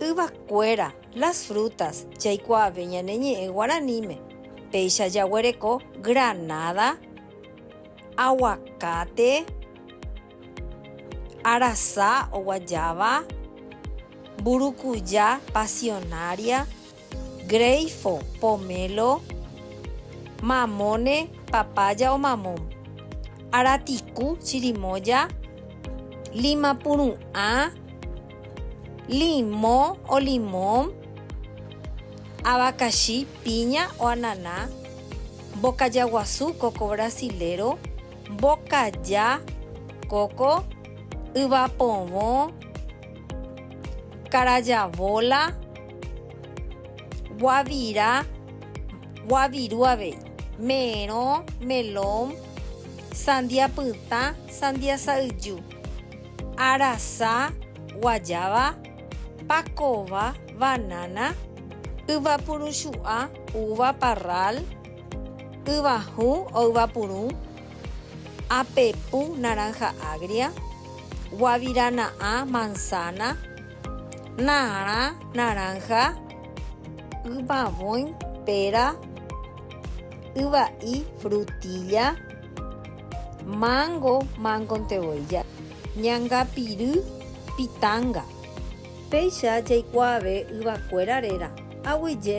Yvakuéra, las frutas, jaikuaave ñane ñe'ẽ guaraníme, péicha jaguereko granada, aguacate, arasa oguajáva, mburukuja, pasionaria. Greifo, Pomelo, Mamone, Papaya o Mamón, Aratiku, Chirimoya, Lima Puru'ã, Limo o Limón, Abacaxi, Piña o Ananá, Mbokaya Guasu, Coco Brasilero, Mbokaya, Coco, Yvapovõ, Carayavola, guavira, guaviru avei, merõ, melón, sandia pytã, sandia sa'yju, arasa, guayaba, pakova, banana, yvapuruchu'a, uva, parral, yvahũ o yvapurũ, apepu, naranja agria, guavirana'ã, manzana, Narã, naranja, yvavõi, péra, yva'i, frutilla, mango, mangonte voi, ñangapiry, pitanga. Péicha jaikuaave yvakuéra réra, aguyje.